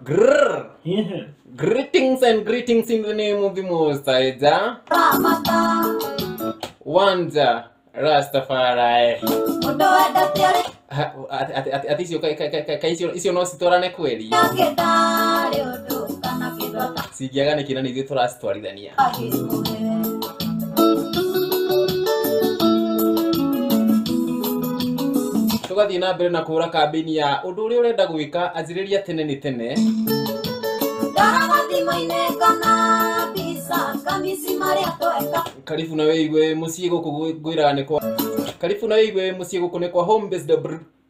Grrr. Greetings and greetings in the name of the Most High Jah. One Jah, Rastafari. Ha- ati- ati- ati- ati icio ka- ka- ka- ka- icio- icio no citwarane kweli cingĩaga nĩ kĩna nĩ ithuĩ tũracitwarithania tugathiĩ na mbere na kũhũra kambĩini ya ũndũ ũrĩa ũrenda gwĩka anjĩrĩria tene nĩ tene karibu na wĩigue mũciĩ gũkũ ngwĩraga nĩ kwa karibu na wĩigue mũciĩ gũkũ nĩ kwa home based br-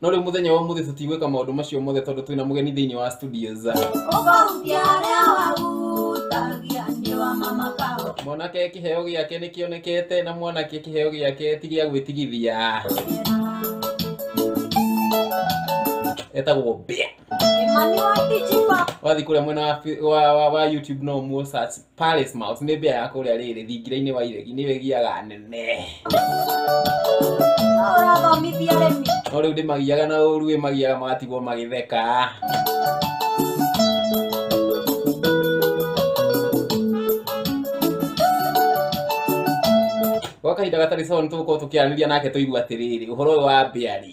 no rĩu mũthenya wa ũmũthĩ tũtigwĩka maũndũ macio mothe tondũ twĩna mũgeni thĩinĩ wa studios ũkahutia arĩa wahutagia nĩ wa mama kao mwanake kĩheo gĩake nĩ kĩonekete na mwanake kĩheo gĩake ti gĩa gwĩtigithia etagwo mbĩa Emmanuel Dijipa wathiĩ kũrĩa mwena wa, fi- wa, wa, wa youtube no muo search Palace Mouth nĩ mbĩa ya kũrĩa rĩrĩ thingira-inĩ wa iregi nĩyo ĩgiaga anene ũrathomithia arĩmi no rĩu ndĩmagiaga na ũru ĩmagiaga magatigwo magĩtheka gwa kahinda gatarĩ sawa nĩ tũgũkorwo tũkĩaranĩria nake tũigua atĩrĩrĩ ũhoro ũyũ wa mbĩa rĩ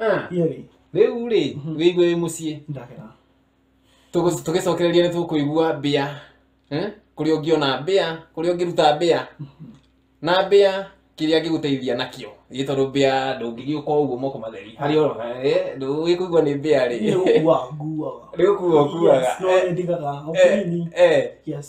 Ah, yerĩ rĩu rĩ Mhm. wĩigue wĩ mũciĩ ndakera Tũgũ- tũgĩcokereria nĩ tũkũigua mbĩa Eh? kũrĩa ũngĩona mbĩa kũrĩa ũngĩruta mbĩa na mbĩa kĩrĩa angĩgũteithia nakĩo ĩ tondũ mbĩa ndũngĩgĩũka ũguo moko matheri harĩa ũrona eh, ndũgĩkũigua nĩ mbĩa rĩ nĩ gũkua nguaga Nĩ gũkua ũkuaga. Yes, no Eh. nĩ ndigaga Eh, ũkĩnini eh, yes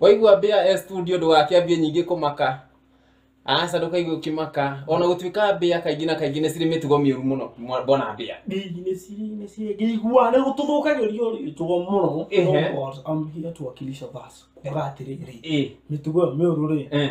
waigua mbĩa e studio ndũgakĩambie nyingĩ kũmaka aca ndũkaigue ũkĩmaka ona gũtuĩka mbĩa kaingĩ na kaingĩ nĩ cirĩ mĩtugo mĩũru mũno mwa- mbona mbĩa ngĩigua nä gå tå thå kagä rio rä tugo må no Ehe. twakilisha basi kuga atä rä rä ĩ mä tugo ä yo mä å rå rä eh.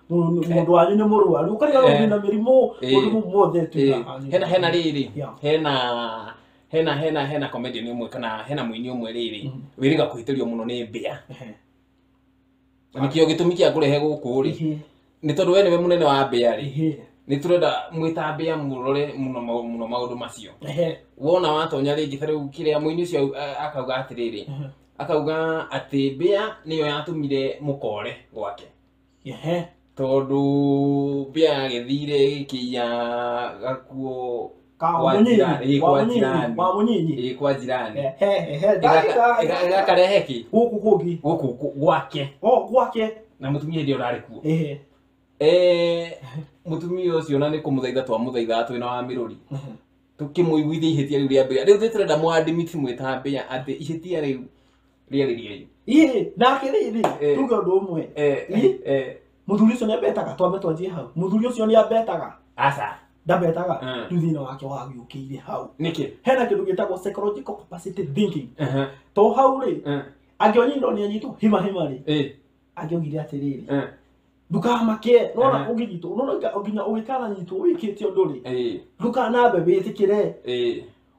Mũndũ- mũndũ wanyu nĩ mũrwaru ũkariga Eh. rũthi na mĩrimũ Eh. mũndũ mũ- muothe Eh, tuĩkaga hena hena rĩrĩ Yeah. hena hena hena hena comedian ũmwe kana hena mũini ũmwe rĩrĩ Mhm. wĩrĩga kũhĩtĩrio mũno nĩ mbĩa Ehe. na nĩkĩo gĩtũmi kĩa ngũrehe gũkũ rĩ Ehe. nĩ tondũ we nĩwe mũnene wa mbĩa rĩ Ehe. nĩ tũrenda mwĩta mbĩa mũrore mũno mau- mũno maũndũ macio Ehe. wona watonya rĩngĩ ta rĩu kĩrĩa mũini ũcio au- a- akauga atĩrĩrĩ Ehe. akauga atĩ mbĩa nĩyo yatũmire mũkore gwake Ehe, tondũ mbĩa yagĩthire ĩgĩkĩiya gakuo kwa Kamunyinyi, njirani, ĩĩ, kwa Wamunyinyi, njirani. Wamunyinyi. ĩĩ kwa njirani He, he, he, Ĩgaka- ndagĩtarĩ. ĩga- ĩgakarehe kĩ Gũkũ kũngĩ. gũkũ kũ- gwake O, gwake. na mũtumia hĩndĩ ĩyo ũrarĩ kuo Ehe. Eh, mũtumia ũcio na nĩ kũmũthaitha twamũthaithaga twĩna wa mĩrũri tũkĩmũiguithia ihĩtia rĩu rĩa mbĩa rĩu nĩ tũrenda mwadimiti mwĩta mbĩa atĩ ihĩtia rĩu rĩarĩriai ii nake rĩrĩ Eh. tuge ũndũ ũmwe Eh, eh, Ii. eh, mũthuri ũcio nĩambetaga twambe twanjie hau mũthuri ũcio nĩambetaga aca ndambetaga Mm. rĩu thĩna wake wagĩũkĩire hau nĩkĩ hena kĩndũ gĩtagwo psychological capacity thinking Ehe, to hau rĩ eh, angĩonyinwo nĩ anyitwo hima hima rĩ eh, angĩaugire atĩrĩrĩ eh, ndũkamake nona Eh. ũngĩnyitwo nona nginya ũngĩkananyitwo wĩkĩte ũndũ rĩ eh, ndũkanambe wĩtĩkĩre eh,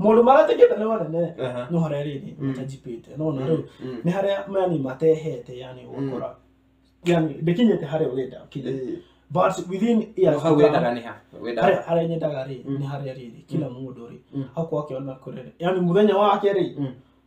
maũndå marĩa tũngĩenda nĩ manene Aha. no harĩa rĩrĩ Mm. matajipĩte no na rĩu Mm. nĩ harĩa yani matehete yani ũgakora yani ndĩkinyĩte harĩa ũrenda ũkinye Eh, but within no years hau to come, wendaga nĩ ha wendaga harĩa harĩa nyendaga rĩ Mm. nĩ harĩa rĩrĩ kila mũndũ rĩ Mm. akorwo akĩona kũrere yani mũthenya wake rĩ Mm.